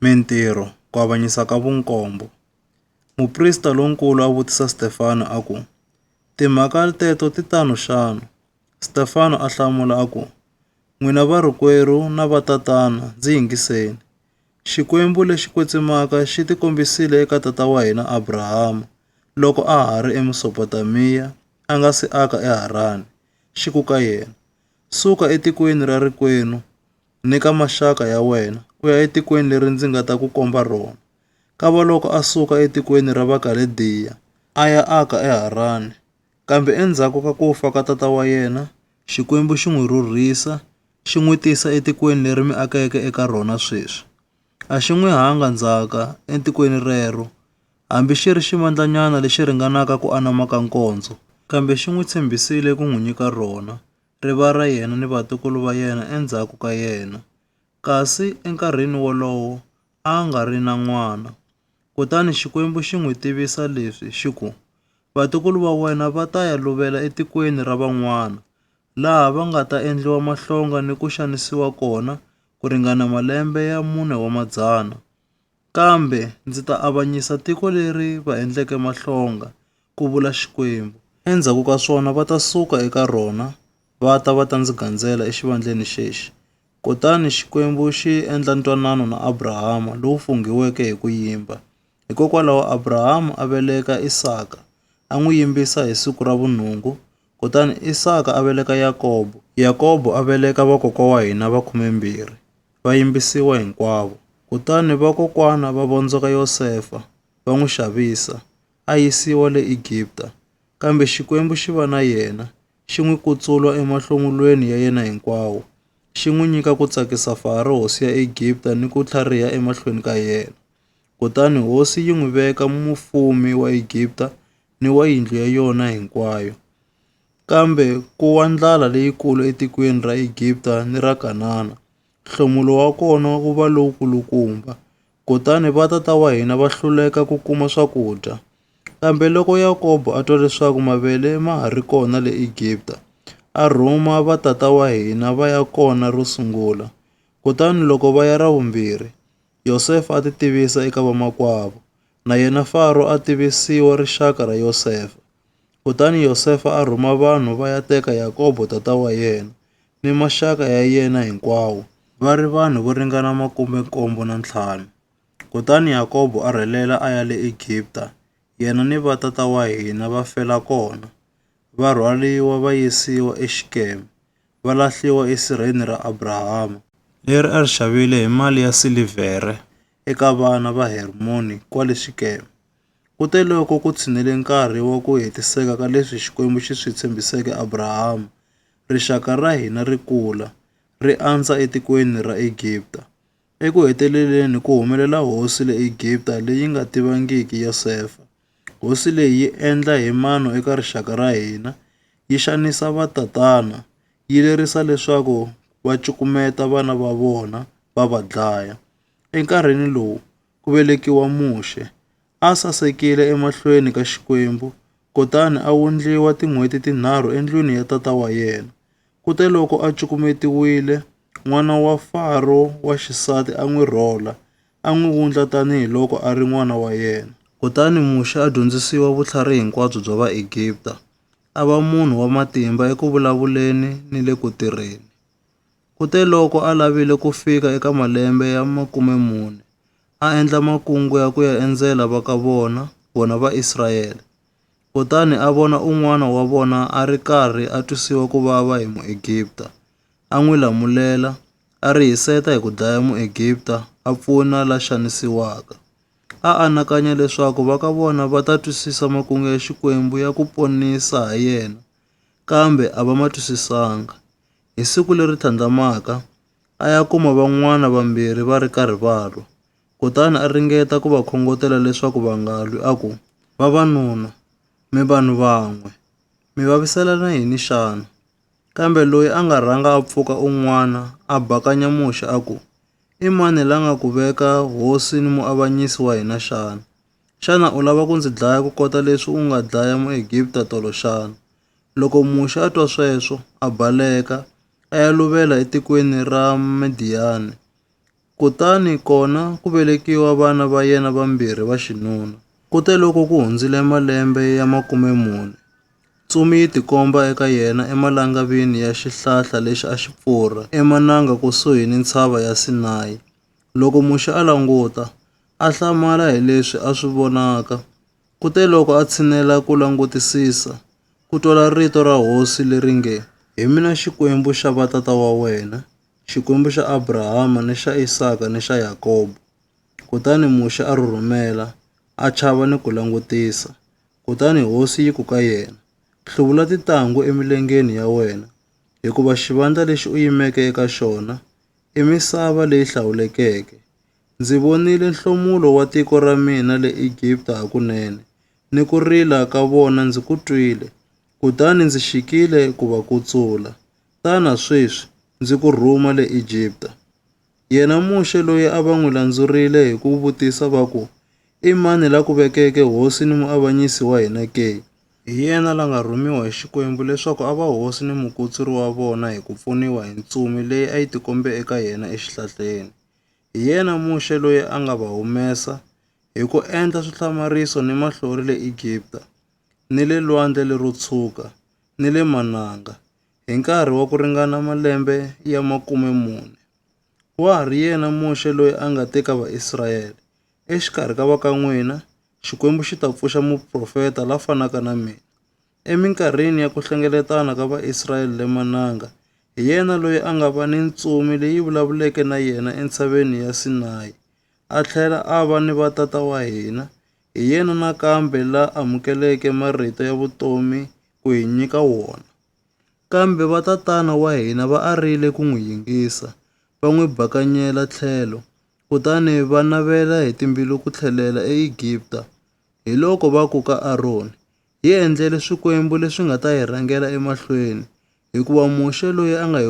Mintirho, Ku Avanyisa ka Vunkombo. Muprista lonkulu a vutisa Stefano a ku, Timhaka teto ti tano xana? Stefano a hlamula a ku, N'wina varikwerhu na vatatana, ndzi yingiseni. Xikwembu lexi kwetsimaka xi tikombisile eka tata wa hina Abrahama loko a ha ri eMesopotamiya a nga si aka eHarani, xi ku ka yena, Suka etikweni ra rikwenu ni ka maxaka ya wena u ya etikweni leri ndzi nga ta ku komba rona. Kavaloko a suka etikweni ra Vakalediya a ya aka eHarani. Kambe endzhaku ka ku fa ka tata wa yena, Xikwembu xi n'wi rhurhisa xi n'wi tisa etikweni leri mi akeke eka rona sweswi. A xi n'wi hanga ndzhaka etikweni rero, hambi xi ri xivandlanyana lexi ringanaka ku anama ka nkondzo, kambe xi n'wi tshembisile ku n'wi nyika rona. ri va ra yena ni vatukulu va yena endzhaku ka yena. Kasi enkarhini wolowo a a nga ri na n'wana. Kutani Xikwembu xi n'wi tivisa leswi xi ku, Vatukulu va wena va ta ya luvela etikweni ra van'wana, laha va nga ta endliwa mahlonga ni ku xanisiwa kona ku ringana malembe ya mune wa madzana. Kambe ndzi ta avanyisa tiko leri va endleke mahlonga, ku vula Xikwembu. Endzhaku ka swona va ta suka eka rona va ta va ta ndzi gandzela exivandleni xexi. Kutani Xikwembu xi endla ntwanano na Abrahama lowu funghiweke hi ku yimba. Hikokwalaho Abrahama a veleka Isaka, a n'wi yimbisa hi siku ra vunhungu Kutani Isaka a veleka Yakobo. Yakobo a veleka vakokwa wa hina va khumembirhi, va yimbisiwa hinkwavo. Kutani vakokwana va vondzoka Yosefa, va n'wi xavisa, a yisiwa le Egipta. Kambe Xikwembu xi va na yena, xi n'wi kutsulwa emahlomulweni ya yena hinkwawo, xi n'wi nyika ku tsakisa Faro hosi ya Egipta ni ku tlhariha emahlweni ka yena. Kutani hosi yi n'wi veka mufumi wa Egipta ni wa yindlu ya yona hinkwayo. Kambe ku wa ndlala leyikulu etikweni ra Egipta ni ra Kanana, nhlomulo wa kona wu va lowukulukumba. Kutani va tata wa hina va hluleka ku kuma swakudya. Kambe loko Yakobo a twa leswaku mavele ma ha ri kona le Egipta, a rhuma va tata wa hina va ya kona ro sungula. Kutani loko va ya ra vumbirhi, Yosefa a titivisa eka vamakwavo, na yena Faro a tivisiwa rixaka ra Yosefa. Kutani Yosefa a rhuma vanhu va ya teka Yakobo tata wa yena ni maxaka ya yena hinkwawo, va ri vanhu vo ringana makume nkombo na ntlhanu. Kutani Yakobo a rhelela a ya le Egipta, yena ni va tata wa hina va fela kona, va rhwaliwa va yisiwa eXikeme. va lahliwa esirheni ra Abrahama, leri a ri xavile hi mali ya silivhere eka vana va Hermoni kwale Xikeme. Kuteloko ku tshinele nkarhi wa ku hetiseka ka leswi Xikwembu xi swi tshembiseke Abrahama, rixaka ra hina ri kula, ri andza etikweni ra Egipta. Eku heteleleni ku humelela hosi le Egipta leyi nga tivangiki Yosefa. Hosi leyi yi endla hi mano eka rixaka ra hina, yi xanisa vatatana, yi lerisa leswaku va cukumeta vana va vona va va dlaya. Enkarhini lowu ku velekiwa Muxe, a sasekile emahlweni ka Xikwembu kutani a wundliwa tin'hweti tinharhu endlwini ya tata wa yena. Kuteloko a cukumetiwile, n'wana wa Faro wa xisati a n'wi rhola. a n'wi wundla tanihi loko a ri n'wana wa yena. Kutani Muxe a dyondzisiwa vutlhari hinkwabyo bya Vaegipta, a va munhu wa matimba eku vulavuleni ni le ku tirheni. Kuteloko a lavile ku fika eka malembe ya makume mune, a endla makungu ya ku ya endzela va ka vona, vona Vaisrayele. Kutani a vona un'wana wa vona a ri karhi a twisiwa ku vava hi Muegipta, a n'wi lamulela, A ri hiseta hi ku dlaya Muegipta a pfuna la xanisiwaka. A anakanya leswaku va ka vona va ta twisisa makungu ya Xikwembu ya ku ponisa ha yena, kambe a va ma twisisanga. Hi siku leri tlhandlamaka, a ya kuma van'wana vambirhi va ri karhi va lwa, kutani a ringeta ku va khongotela leswaku va nga lwi a ku, Vavanuna, mi vanhu van'we, mi vaviselana yini xana? Kambe loyi a nga rhanga a pfuka un'wana a bakanya muxe a ku, I mani la nga ku veka hosi ni muavanyisi wa hina xana? Xana u lava ku ndzi dlaya ku kota leswi u nga dlaya Muegipta tolo xana? Loko muxe a twa sweswo, a baleka, a ya luvela etikweni ra Midiyani. Kutani kona ku velekiwa vana va yena vambirhi va xinuna. Kute loko ku hundzile malembe ya makume mune, ntsumi yi tikomba eka yena emalangavini ya xihlahla lexi a xi pfurha emananga kusuhi ni ntshava ya Sinayi. Loko Muxe a languta, a hlamala hi leswi a swi vonaka. Kute loko a tshinela ku langutisisa, ku twala rito ra Hosi leri nge, Hi mina Xikwembu xa vatata wa wena, Xikwembu xa Abrahama ni xa Isaka ni xa Yakobo. Kutani Muxe a rhurhumela, a chava ni ku langutisa. Kutani hosi yi ku ka yena, Hluvula titanghu emilengeni ya wena, hikuva xivandla lexi u yimeke eka xona i misava leyi hlawulekeke. Ndzi vonile nhlomulo wa tiko ra mina le Egipta hakunene, ni ku rila ka vona ndzi ku twile, kutani ndzi xikile ku va kutsula. Tana sweswi, ndzi ku rhuma le Egipta. Yena Muxe loyi a va n'wi landzurile hi ku vutisa va ku, I mani la ku vekeke hosi ni muavanyisi wa hina ke? Hi yena la nga rhumiwa hi Xikwembu leswaku a va hosi ni mukutsuri wa vona hi ku pfuniwa hi ntsumi leyi a yi tikombe eka yena exihlahleni. Hi yena Muxe loyi a nga va humesa hi ku endla swihlamariso ni mahlori le Egipta, ni le Lwandle lero Tshwuka, ni le mananga, Hi nkarhi wa ku ringana malembe ya makume mune, wa ha ri yena Muxe loyi a nga te ka Vaisraele, Exikarhi ka va ka n'wina, Xikwembu xi ta pfuxa muprofeta la fanaka na mina. Eminkarhini ya ku hlengeletana ka Vaisraele le Mananga, hi yena loyi a nga va ni ntsumi leyi vulavuleke na yena entshaveni ya Sinayi, a tlhela a va ni vatata wa hina, Hi yena nakambe la amukeleke marito ya vutomi ku hi nyika wona. Kambe va tatana wa hina va arile ku n'wi yingisa, va n'wi bakanyela tlhelo, kutani va navela hi timbilu ku tlhelela eEgipta. Hiloko va ku ka Aroni, Hi endlele swikwembu leswi nga ta hi rhangela emahlweni, hikuva Muxe loyi a nga hi